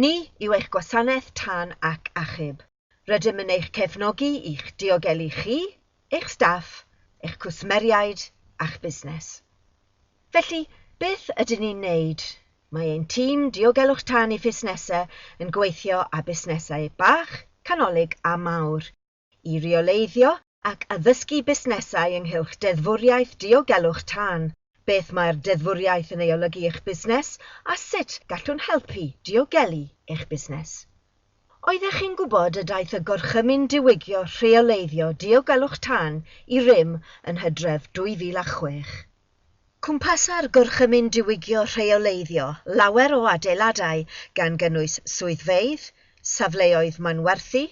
Ni yw eich gwasanaeth tân ac achub. Rydym yn eich cefnogi i'ch diogelu chi, eich staff, eich cwsmeriaid a'ch busnes. Felly, beth ydyn ni'n wneud? Mae ein tîm Diogelwch Tân i Fusnesau yn gweithio â busnesau bach, canolig a mawr, i reoleiddio ac addysgu busnesau ynghylch deddfwriaeth diogelwch tân, beth mae'r deddfwriaeth yn ei olygu i'ch busnes a sut gallwn helpu diogelu eich busnes. Oeddech chi'n gwybod y daeth y Gorchymyn Diwygio Rheoleiddio Diogelwch Tân i rym yn Hydref 2006? Cwmpasa'r Gorchymyn Diwygio Rheoleiddio lawer o adeiladau gan gynnwys swyddfeydd, safleoedd manwerthu,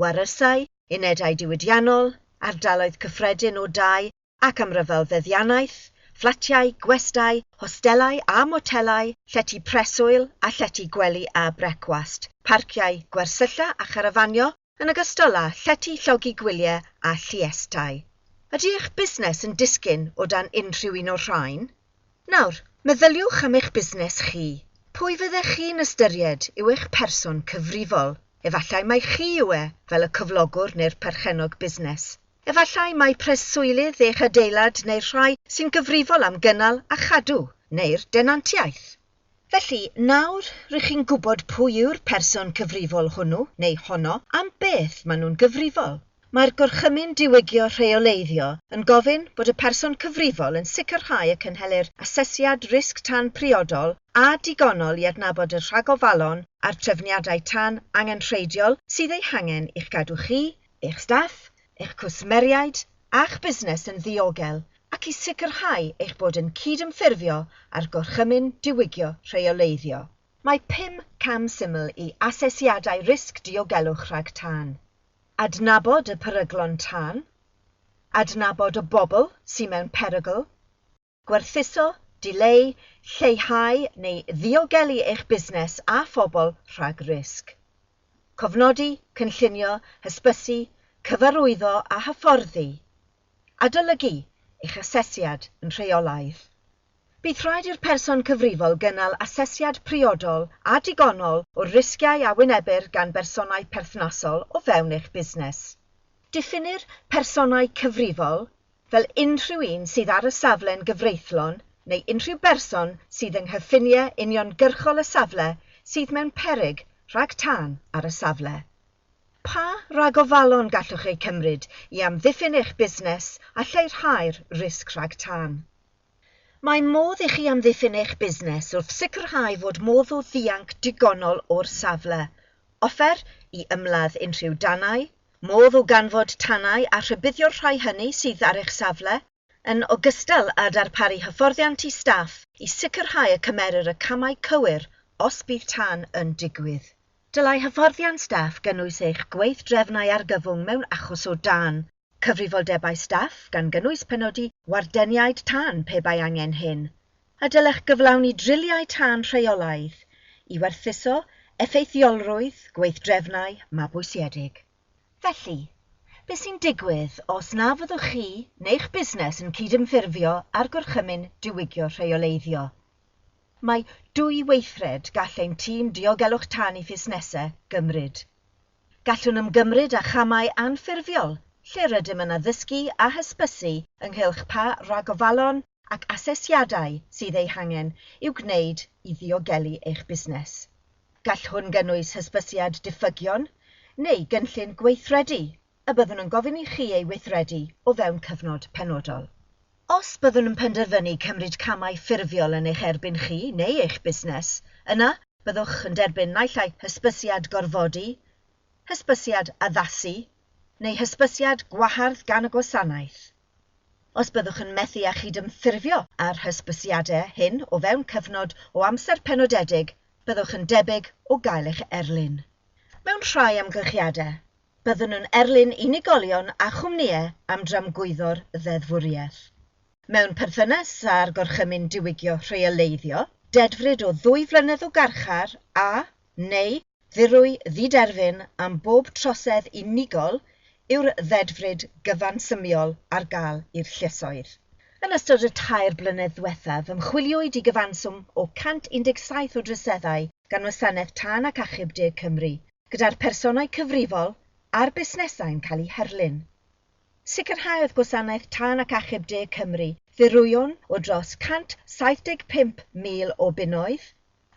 warysau, unedau diwydiannol, ardaloedd cyffredin o dai ac amryfal feddiannaeth, fflatiau, gwestai, hostelau a motelau, llety preswyl a llety gwely a brecwast, parciau, gwersylla a charafanio, yn ogystal â llety llogi gwyliau a lluestau. Ydy eich busnes yn disgyn o dan unrhyw un o'r rhain? Nawr, meddyliwch am eich busnes chi. Pwy fyddech chi'n ystyried yw eich person cyfrifol? Efallai mai chi yw e, fel y cyflogwr neu'r perchennog busnes. Efallai mai preswylydd eich adeilad neu'r rhai sy'n gyfrifol am gynnal a chadw, neu'r denantiaeth. Felly, nawr rŷch chi'n gwybod pwy yw'r person cyfrifol hwnnw, neu honno, am beth maen nhw'n gyfrifol. Mae'r Gorchymyn Diwygio Rheoleiddio yn gofyn bod y person cyfrifol yn sicrhau y cynhelir asesiad risg tân priodol a digonol i adnabod y rhagofalon a'r trefniadau tân angenrheidiol sydd eu hangen i'ch cadw chi eich staff, eich cwsmeriaid a'ch busnes yn ddiogel ac i sicrhau eich bod yn cydymffurfio â'r Gorchymyn Diwygio Rheoleiddio. Mae pum cam syml i asesiadau risg diogelwch rhag tân. Adnabod y peryglon tân. Adnabod y bobl sy'n mewn perygl. Gwerthuso, dileu, lleihau neu ddiogelu eich busnes a phobl rhag risg. Cofnodi, cynllunio, hysbysu, cyfarwyddo a hyfforddi. Adolygu eich asesiad yn rheolaidd. Bydd rhaid i'r person cyfrifol gynnal asesiad priodol a digonol o'r risgiau a wynebir gan bersonau perthnasol o fewn eich busnes. Diffinnir personau cyfrifol, fel unrhyw un sydd ar y safle'n gyfreithlon neu unrhyw berson sydd yng nghyffiniau uniongyrchol y safle sydd mewn peryg rhag tân ar y safle. Pa ragofalon gallwch eu cymryd i amddiffyn eich busnes a lleihau'r risg rhag tân? Mae modd i chi amddiffyn eich busnes wrth sicrhau fod modd o ddianc digonol o'r safle, offer i ymladd unrhyw danau, modd o ganfod tanau a rhybuddio'r rhai hynny sydd ar eich safle, yn ogystal â darparu hyfforddiant i staff i sicrhau y cymerir y camau cywir os bydd tân yn digwydd. Dylai hyfforddiant staff gynnwys eich gweithdrefnau argyfwng mewn achos o dân, Cyfrifoldebau staff, gan gynnwys penodi wardeniaid tân pe bai angen hyn, a dylech gyflawni driliau tân rheolaidd i werthuso effeithiolrwydd gweithdrefnau mabwysiedig. Felly, beth sy'n digwydd os na fyddwch chi neu'ch busnes yn cydymffurfio â'r Gorchymyn Diwygio Rheoleiddio? Mae dwy weithred gall ein tîm diogelwch tân i fusnesau gymryd. Gallwn ymgymryd â chamau anffurfiol lle rydym yn addysgu a hysbysu ynghylch pa ragofalon ac asesiadau sydd eu hangen i'w gwneud i ddiogelu eich busnes. Gall hwn gynnwys hysbysiad diffygion neu gynllun gweithredu y byddwn yn gofyn i chi ei weithredu o fewn cyfnod penodol. Os byddwn yn penderfynu cymryd camau ffurfiol yn eich erbyn chi neu eich busnes, yna byddwch yn derbyn naill ai hysbysiad gorfodi, hysbysiad addasu, neu hysbysiad gwahardd gan y gwasanaeth. Os byddwch yn methu â chydymffurfio â'r hysbysiadau hyn o fewn cyfnod o amser penodedig, byddwch yn debyg o gael eich erlyn. Mewn rhai amgylchiadau, Byddwn yn erlyn unigolion a chwmnïau am dramgwyddo'r ddeddfwriaeth. Mewn perthynas â'r Gorchymyn Diwygio Rheoleiddio, dedfryd o ddwy flynedd o garchar a, neu, ddirwy ddiderfyn am bob trosedd unigol yw'r ddedfryd gyfansymiol ar gael i'r lluosoedd. Yn ystod y tair blynedd ddiwethaf, ymchwiliwyd i gyfanswm o 117 o droseddau gan Wasanaeth Tân ac Achub De Cymru, gyda'r personau cyfrifol a'r busnesau'n cael eu herlyn. Sicrhaodd Gwasanaeth Tân ac Achub De Cymru ddirwyon o dros 175,000 o bunnoedd,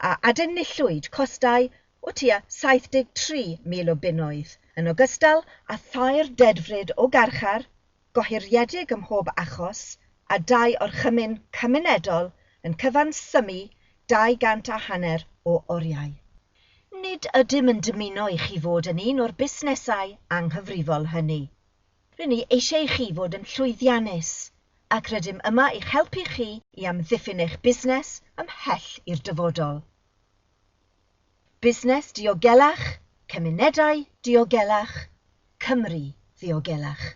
a adenillwyd costau o tua 73,000 o bunnoedd, yn ogystal â thair dedfryd o garchar, gohiriedig ym mhob achos a dau orchymyn cymunedol yn cyfansymmu dau gant a hanner o oriau. Nid ydym yn dymuno i chi fod yn un o'r busnesau anghyfrifol hynny. Ry'n ni eisiau i chi fod yn llwyddiannus ac rydym yma i'ch helpu chi i amddiffyn eich busnes ymhell i'r dyfodol. Busnes Diogelach, Cymunedau Diogelach, Cymru Ddiogelach.